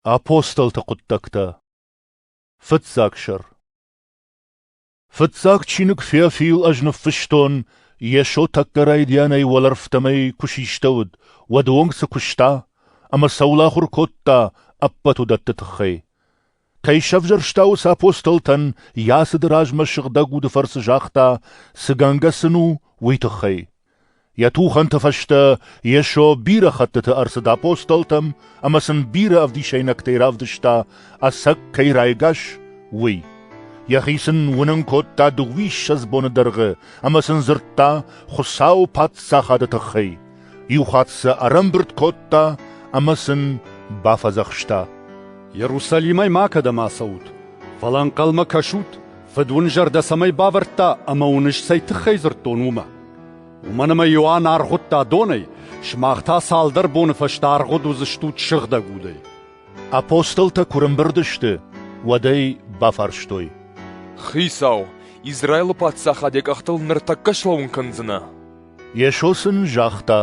Апостолты хъуыддӕгтӕ Фыццаг сӕр Фыццаг чиныг Феофил ӕз ныффыстон, Йесо тӕккӕ райдианӕй уӕлӕрвтӕмӕй куы систӕуыд, уӕд уонг цы куыста ӕмӕ цӕуыл ахуыр кодта, ӕппӕт уыдӕтты тыххӕй. Кӕй сӕвзӕрста уыцы апостолтӕн, йӕ ацыды размӕ сыгъдӕг уды фӕрцы загъта, цы гӕнгӕ сын у, уый тыххӕй. Йӕ тухӕнты фӕстӕ Йесо бирӕ хӕттыты ӕрцыд апостолтӕм ӕмӕ сын бирӕ ӕвдисӕйнӕгтӕй равдыста, ӕцӕг кӕй райгас, уый. Йӕхи сын уынын кодта дыууиссӕдз боны дӕргъы ӕмӕ сын дзырдта Хуыцауы Паддзахады тыххӕй. Иу хатт сӕ ӕрӕмбырд кодта ӕмӕ сын бафӕдзӕхста. Иерусалимӕй макӕдӕм ацӕут, фӕлӕ ӕнхъӕлмӕ кӕсут, Фыд уын зӕрдӕ цӕмӕй бавӕрдта ӕмӕ уын ӕз цӕй тыххӕй дзырдтон, уымӕ. Уымӕн ӕмӕ Иоанн аргъуыдта донӕй, сымах та цалдӕр боны фӕстӕ аргъуыд уыдзыстут сыгъдӕг удӕй. Апостолтӕ куы рымбырд сты, уӕд ӕй бафарстой. «Хицау, Израилы паддзахад йӕ къӕхтыл ныртӕккӕ слӕууын кӕндзынӕ?» Йесо сын загъта,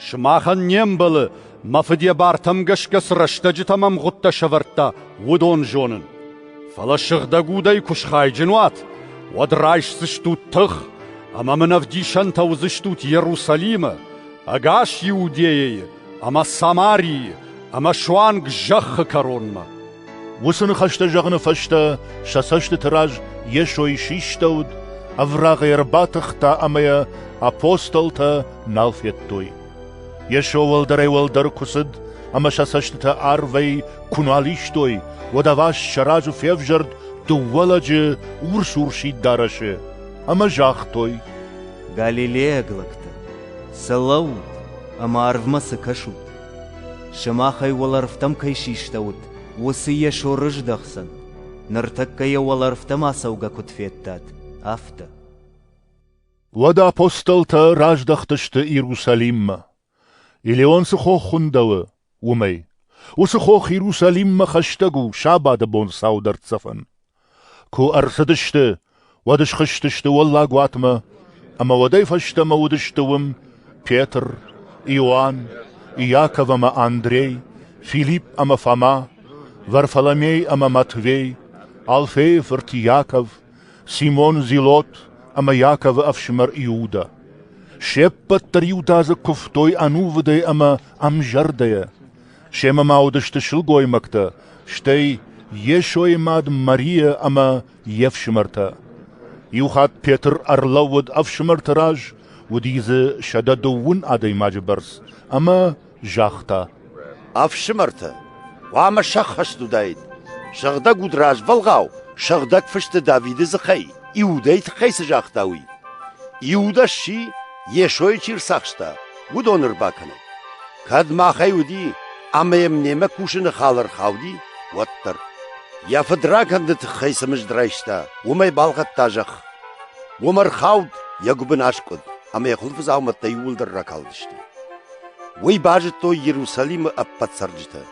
«Сымахӕн не мбӕлы, мӕ Фыд йӕ бартӕм гӕсгӕ цы рӕстӕджытӕм ӕмгъуыдтӕ сӕвӕрдта, уыдон зонын. Фӕлӕ сыгъдӕг удӕй куы схайджын уат, уӕд райсдзыстут тых, ӕмӕ мын ӕвдисӕнтӕ уыдзыстут Иерусалимы, ӕгас Иудейӕйы ӕмӕ Самарийы ӕмӕ суанг зӕххы кӕронмӕ. Уыцы ныхӕстӕ зӕгъыны фӕстӕ сӕ цӕстыты раз Йесой систӕуыд, ӕврагъ йӕ ӕрбатыхта ӕмӕ йӕ апостолтӕ нал федтой. Йесо уӕлдӕрӕй-уӕлдӕр куы цыд ӕмӕ сӕ цӕстытӕ арвӕй куы нал истой, уӕд ӕваст сӕ разы февзӕрд дыууӕ лӕджы урс-урсид дарӕсы ӕмӕ загътой: «Галилейаг лӕгтӕ, цы лӕуут ӕмӕ арвмӕ цы кӕсут? Сымахӕй уӕлӕрвтӕм кӕй систӕут, уыцы Йесо рыздӕхдзӕн, ныртӕккӕ йӕ уӕлӕрвтӕм ацӕугӕ куыд федтат, афтӕ. Уӕд апостолтӕ раздӕхтысты Иерусалиммӕ, Илион цы хох хуындӕуы, уымӕй. Уыцы хох Иерусалиммӕ хӕстӕг у сабаты бон сау дӕрддзӕфӕн. Куы ӕрцыдысты, уӕд схызтысты уӕллаг уатмӕ, ӕмӕ уӕдӕй фӕстӕмӕ уыдысты уым Петр, Иоанн, Иаков ӕмӕ Андрей, Филипп ӕмӕ Фома, Варфоломей ӕмӕ Матвей, Алфейы фырт Иаков, Симон Зелот ӕмӕ Иаковы ӕфсымӕр Иудӕ. Се ппӕт дӕр иудадзыг куывтой ӕнувыдӕй ӕмӕ ӕмзӕрдӕйӕ. Семӕ ма уыдысты сылгоймӕгтӕ, стӕй Йесойы мад Марийӕ ӕмӕ йе фсымӕртӕ. Иу хатт Петр ӕрлӕууыд ӕфсымӕрты раз, уыди дзы сӕдӕ дыууын адӕймаджы бӕрц, ӕмӕ загъта: «Ӕфсымӕртӕ, хъуамӕ сӕххӕст уыдаид, сыгъдӕг уд развӕлгъау Сыгъдӕг Фысты Давиды дзыхӕй, Иудӕйы тыххӕй цы загъта, уый. Иудӕ сси, Йесойы чи рцахста, уыдоны ӕрбакӕнӕг. Кӕд махӕй уыди ӕмӕ йӕм немӕ кусыны хал ӕрхауди, уӕддӕр. Йӕ фыдракӕнды тыххӕй цы мызд райста, уымӕй балхӕдта зӕхх. Уым ӕрхауд, йӕ гуыбын аскъуыд, ӕмӕ йӕ хуылфы дзаумӕттӕ иууылдӕр ракалдысты. Уый базыдтой Иерусалимы ӕппӕт цӕрджытӕ.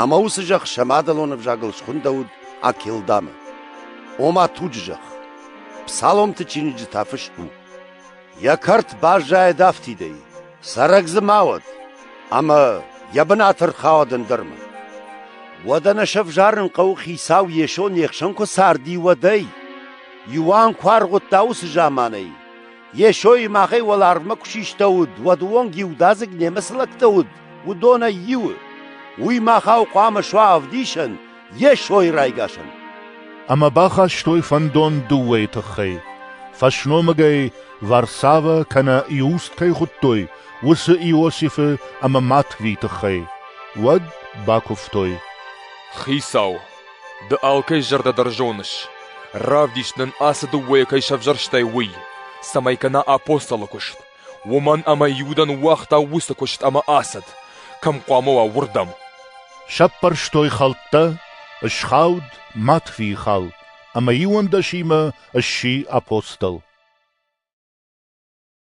Ӕмӕ уыцы зӕхх сӕ мадӕлон ӕвзагыл схуындӕуыд Акелдамы. Ома туджы зӕхх. Псаломты чиныджы та фыст у: «Йӕ кӕрт баззайӕд афтидӕй, Цӕрӕг дзы ма уӕд, ӕмӕ йӕ бынаты ӕрхауӕд ӕндӕрмӕ. Уӕдӕ нӕ сӕвзарын хъӕуы, хицау Йесо не хсӕн куы царди, уӕдӕй. Иоанн куы аргъуыдта уыцы заманӕй, Йесойы махӕй уӕларвмӕ куы систӕуыд, уӕд уонг иудадзыг немыц лӕгтӕ уыд, уыдонӕй иуы. Уый махау хъуамӕ суа ӕвдисӕн, Йесойы райгасӕн. Ӕмӕ бахастой фӕндон дыууӕйы тыххӕй. Фӕсномыгӕй Варсавӕ кӕнӕ Иуст кӕй хуыдтой, уыцы Иосифы ӕмӕ Матви тыххӕй, уӕд бакуывтой. Хицау, ды алкӕй зӕрдӕ дӕр зоныс, равдис нын ацы дыууӕйӕ кӕй сӕвзӕрстай, уый, цӕмӕй кӕна апостолы куыст. уымӕн ӕмӕ Иудӕ ныууагъта уыцы куыст ӕмӕ ацыд, кӕм хъуамӕ уа, уырдӕм. Сӕппӕрстой хӕлттӕ, ысхауд Матфийы хал, ӕмӕ иуӕндӕсимӕ сси апостол.